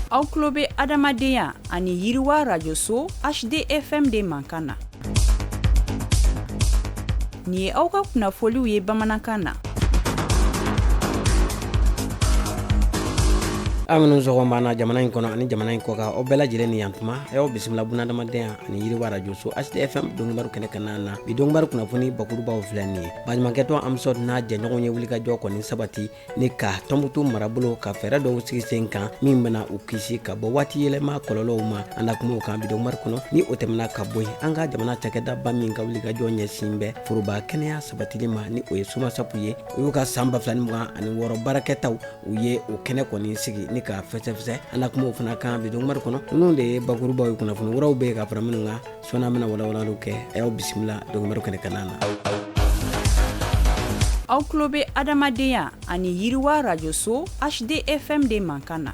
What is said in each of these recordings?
aw tulo bɛ adamadenya ani yiriwa rajoso hdfm de mankan na nin ye aw ka kunnafoliw ye bamanankan na aw minnu sɔgɔma b'an na jamana in kɔnɔ ani jamana in kɔkan aw bɛɛ lajɛlen ni yantuma aw y'aw bisimila bunadamadenya ani yiriwa rajoso hdfm donkibaru kɛnɛ kanna na bi donkibaru kunnafoni bakurubaw filɛ nin ye baɲumankɛtɔn amsɔd n'a jɛɲɔgɔn ye wulikajɔ kɔni sabati ni ka tɔnbutu marabolo ka fɛɛrɛ dɔw sigi sen kan min bɛna u kisi ka bɔ waati yɛlɛma kɔlɔlɔw ma an na kuma o kan bi donkibaru kɔnɔ ni o tɛmɛna ka bɔ yen an ka jamana cakɛdaba min ka wulikajɔ ɲɛsin bɛ foroba kɛnɛya sabatili ma ni o ye somasapu ye u y'u ka san ba fila ni mugan ani wɔɔrɔ baarakɛtaw u ye o kɛnɛ kɔni sigi ni ka fɛsɛfɛsɛ an na kuma o fana kan bi donkibaru kɔnɔ ninnu de ye bakurubaw ye kunnafoni wɛrɛw bɛ yen ka fara minnu kan Sɔɔni an bɛna walawalali kɛ a y'aw bisimila donkibaru kɛnɛ kanna na aw tulo bɛ adamadenya ani yiriwa rajoso hdfm de mankan na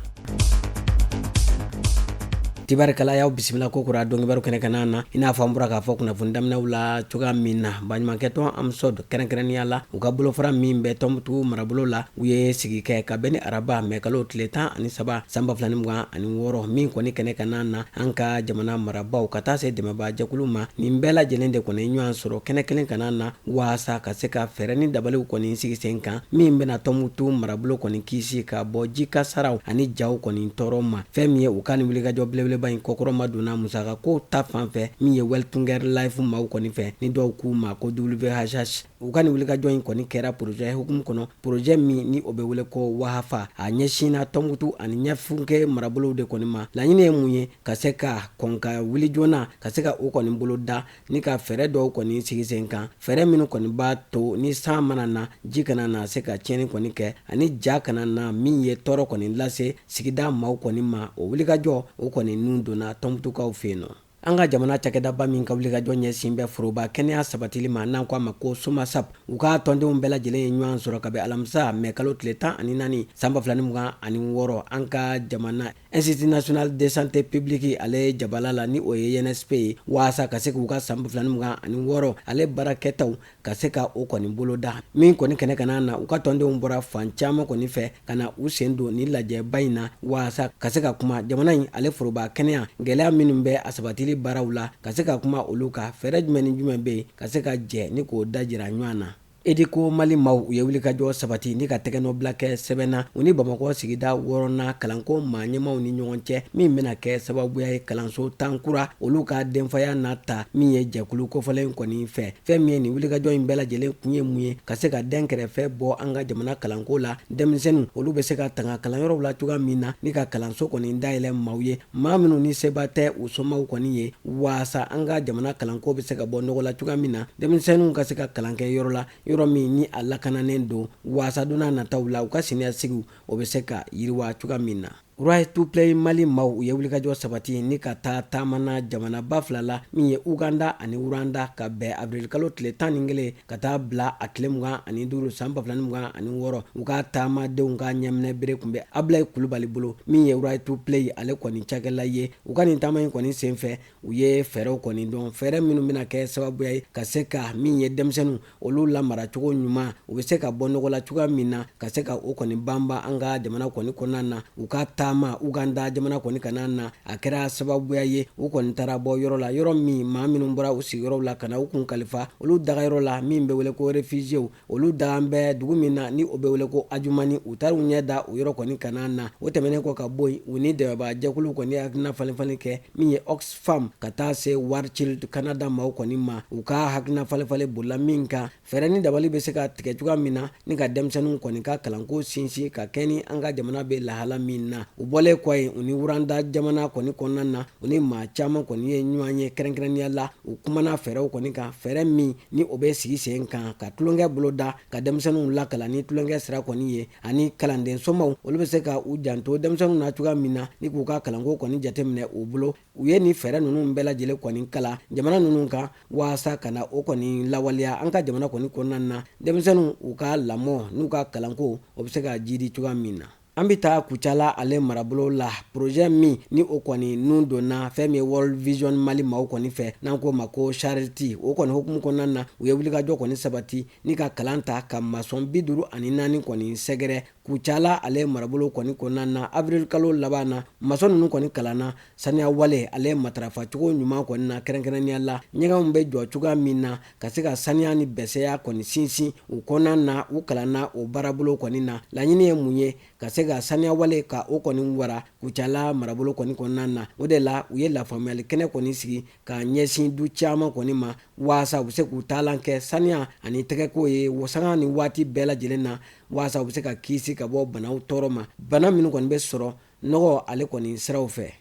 tibarikala y'aw bisimila kokura donkibaru kɛnɛ kanna na i n'a fɔ an bɔra k'a fɔ kunnafoni daminɛw la cogoya min na baɲumankɛtɔn amsɔd kɛrɛnkɛrɛnnenya la u ka bolofara min bɛ tɔnbukutu marabolo la U ye sigi kɛ ka bɛn ni araba mɛkalo tile tan ani saba san ba fila ni mugan ani wɔɔrɔ min kɔni kɛnɛ kanna na an ka jamana marabaaw ka taa se dɛmɛbaajɛkulu ma nin bɛɛ lajɛlen de kɔni ɲɔgɔn sɔrɔ kɛnɛ kelen kanna na waasa ka se ka fɛɛrɛ ni dabaliw kɔni sigi sen kan min bɛna tɔnmutu marabolo kɔni kisi ka bɔ ji kasaraw ani jaw kɔni tɔɔrɔ ma fɛn min ye u ka nin wulikajɔ belebeleba in kɔkɔrɔmadonna musaka ko ta fan fɛ min ye welthungerhilfe maaw kɔni fɛ ni dɔw k'u ma ko whh U ka nin wulikajɔ in kɔni kɛra porozɛ hukumu kɔnɔ porozɛ min ni o bɛ wele ko wahafa a ɲɛsinna tɔnbukutu ani ɲafunke marabolow de kɔni ma laɲini ye mun ye ka se ka kɔn ka wuli joona ka se ka o kɔni bolo da ni ka fɛɛrɛ dɔw kɔni sigi sen kan fɛɛrɛ minnu kɔni b'a to ni san mana na ji kana na se ka tiɲɛni kɔni kɛ ani ja kana na min ye tɔɔrɔ kɔni lase sigida maaw kɔni ma o wulikajɔ o kɔni nun donna tɔnbukutukaw fɛ yen nɔ An ka jamana cakɛdaba min ka wulikajɔ ɲɛsin bɛ foroba kɛnɛya sabatili ma n'an ko a ma ko somasap u ka tɔndenw bɛɛ lajɛlen ye ɲɔgɔn sɔrɔ ka bɛn alamisa mɛkalo tile tan ani naani san ba fila ni mugan ani wɔɔrɔ an ka jamana institut national de santé publique ale jabala la ni o ye insp ye waasa ka se k'u ka san ba fila ni mugan ani wɔɔrɔ ale baarakɛtaw ka se ka o kɔni boloda min kɔni kɛnɛ kanna na u ka tɔndenw bɔra fan caman kɔni fɛ ka na u sen don nin lajɛba in na waasa ka se ka kuma jamana in ale foroba kɛnɛya gɛlɛya minnu bɛ a sabatili baaraw la ka se ka kuma olu kan fɛɛrɛ jumɛn ni jumɛn bɛ yen ka se ka jɛ ni k'o dajira ɲɔgɔn na educo mali maaw u ye wulikajɔ sabati ni ka tɛgɛnɔbila kɛ sɛbɛn na u ni bamakɔ sigida wɔɔrɔnan kalanko maa ɲɛmaaw ni ɲɔgɔn cɛ min bɛna kɛ sababuya ye kalanso tan kura olu ka denfaya n'a ta min ye jɛkulu kofɔlen kɔni fɛ fɛn min ye nin wulikajɔ in bɛɛ lajɛlen kun ye mun ye ka se ka denkɛrɛfɛ bɔ an ka jamana kalanko la denmisɛnninw olu bɛ se ka tanga kalanyɔrɔw la cogoya min na ni ka kalanso kɔni dayɛlɛ maaw ye maa minnu ni seba tɛ u somaw kɔni ye waasa an ka jamana kalanko bɛ se ka bɔ nɔgɔ la cogoya min na denmisɛnninw ka se ka kalan kɛ yɔrɔ la yɔrɔ min ni a lakananen don waasa donna nataw la u ka siniɲɛsigiw o bɛ se ka yiriwa cogoya min na Right to Play mali maaw u ye wulikajɔ sabati ni ka taa taama na jamanaba fila la min ye uganda ani rwanda ka bɛn avril kalo tile tan ni kelen ka taa bila a tile mugan ani duuru san ba fila ni mugan ani wɔɔrɔ u ka taamadenw ka ɲɛminɛ bere kun bɛ abilayi kulubali bolo min ye Right to Play ale kɔni cakɛla ye u ka nin taama in kɔni senfɛ u ye fɛɛrɛw kɔni dɔn fɛɛrɛ minnu bɛna kɛ sababuya ye ka se ka min ye denmisɛnninw olu lamara cogo ɲuman u bɛ se ka bɔ nɔgɔ la cogoya min na ka se ka o kɔni banba an ka jamana kɔni kɔnɔna na u ka taama uganda jamana kɔni kanna na a kɛra sababuya ye u kɔni taara bɔ yɔrɔ la yɔrɔ min maa minnu bɔra u sigiyɔrɔw la ka na u kun kalifa olu dagayɔrɔ la min bɛ wele ko réfugiés olu dagan bɛ dugu min na ni o bɛ wele ko ajumani u taara u ɲɛ da o yɔrɔ kɔni kanna na o tɛmɛnen kɔ ka bɔ yen u ni dɛmɛbaajɛkulu kɔni hakilina falenfalen kɛ min ye oxfam ka taa se War Child kanada maaw kɔni ma u ka hakilina falenfalen bolila min kan fɛɛrɛ ni dabali bɛ se ka tigɛ cogoya min na ni ka denmisɛnninw kɔni ka kalanko sinsin ka kɛɲɛ ni an ka jamana bɛ lahala min na u bɔlen kɔ yen u ni rwanda jamana kɔni kɔnɔna na u ni maa caman kɔni ye ɲɔgɔn ye kɛrɛnkɛrɛnnenya la u kumana fɛɛrɛw kɔni kan fɛɛrɛ min ni o bɛ sigi sen kan ka tulonkɛ bolo da ka denmisɛnninw lakalan ni tulonkɛ sira kɔni ye ani kalanden somaw olu bɛ se ka u janto denmisɛnninw na cogoya min na ni k'u ka kalanko kɔni jateminɛ u bolo u ye nin fɛɛrɛ ninnu bɛɛ lajɛlen kɔni kalan jamana ninnu kan waasa ka na o kɔni lawaleya an ka jamana kɔni kɔnɔna na denmisɛnninw u ka lamɔ n'u ka kalanko o bɛ se ka jiidi cogoya min na An bɛ taa kucala ale marabolo la projet min ni o kɔni nun donna fɛn min ye World Vision mali maaw kɔni fɛ n'an k'o ma ko Charity o kɔni hukumu kɔnɔna na u ye wulikajɔ kɔni sabati ni ka kalan ta ka masɔn bi duuru ani naani kɔni sɛgɛrɛ kucala ale marabolo kɔni kɔnɔna na avril kalo laban na masɔn ninnu kɔni kalanna saniya wale ale matarafacogo ɲuman kɔni na kɛrɛnkɛrɛnnenya la ɲɛgɛnw bɛ jɔ cogoya min na ka se ka saniya ni bɛsɛya kɔni sinsin u kɔnɔna na u kalanna o baarabolo kɔni na laɲini ye mun ye ka se ka saniyawale ka o kɔni wara kucala marabolo kɔni kɔnɔna na o de la u ye lafaamuyali kɛnɛ kɔni sigi ka ɲɛsin du caman kɔni ma waasa u bɛ se k'u taalan kɛ saniya ani tɛgɛko ye sanga ni waati bɛɛ lajɛlen na waasa u bɛ se ka kisi ka bɔ banaw tɔɔrɔ ma bana minnu kɔni bɛ sɔrɔ nɔgɔ ale kɔni siraw fɛ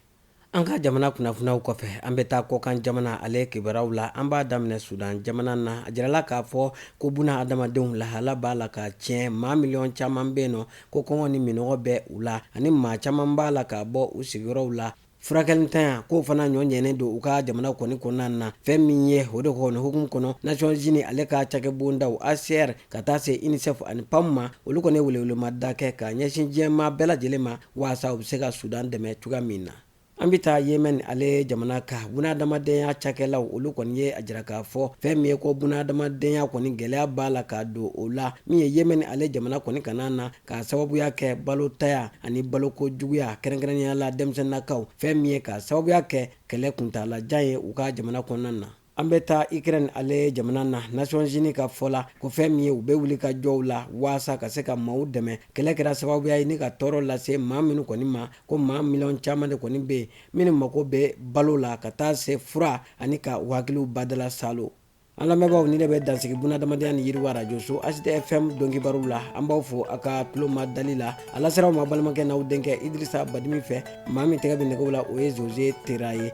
An ka jamana kunnafoniw kɔfɛ an bɛ taa kɔkan jamana ale kibaruw la an b'a daminɛ sudan jamana na a jirala k'a fɔ ko bunadamadenw lahala b'a la ka tiɲɛ maa miliyɔn caman bɛ yen nɔ ko kɔngɔ ni minnɔgɔ bɛ u la ani maa caman b'a la ka bɔ u sigiyɔrɔw la furakɛlintanya k'o fana ɲɔ ɲɛnen don u ka jamana kɔni kɔnɔna na fɛn min ye o de kɔni hukumu kɔnɔ Nations Unies ale ka cakɛbondaw HCR ka taa se UNICEF ani PAM ma olu kɔni ye welewelemada kɛ ka ɲɛsin diɲɛmaa bɛɛ lajɛlen ma waasa u bɛ se ka sudan dɛmɛ cogoya min na an bɛ taa yemɛn ale jamana ka bunadamadenya cakɛlaw olu kɔni ye a jira k'a fɔ fɛn min ye ko bunadamadenya kɔni gɛlɛya b'a la ka don o la min ye yemɛn ale jamana kɔni kana na k'a sababuya kɛ balontanya ani baloko juguya kɛrɛnkɛrɛnnenya la denmisɛnnakaw fɛn min ye k'a sababuya kɛ kɛlɛ kuntaalajan ye u ka jamana kɔnɔna na An bɛ taa ukrɛni ale jamana na Nations Unies ka fɔ la ko fɛn min ye u bɛ wuli ka jɔw la waasa ka se ka maaw dɛmɛ kɛlɛ kɛra sababuya ye ni ka tɔɔrɔ lase maa minnu kɔni ma ko maa miliyɔn caman de kɔni bɛ yen minnu mago bɛ balo la ka taa se fura ani ka u hakiliw badala saalo an lamɛnbaaw nin de bɛ dansigi bunadamadenya ni yiriwa rajoso HD FM donkibaruw la an b'aw fo a ka tulomadali la a lasera aw ma balimakɛ n'aw denkɛ idrisa badimi fɛ maa min tɛgɛ bɛ nɛgɛw la o ye zose tera ye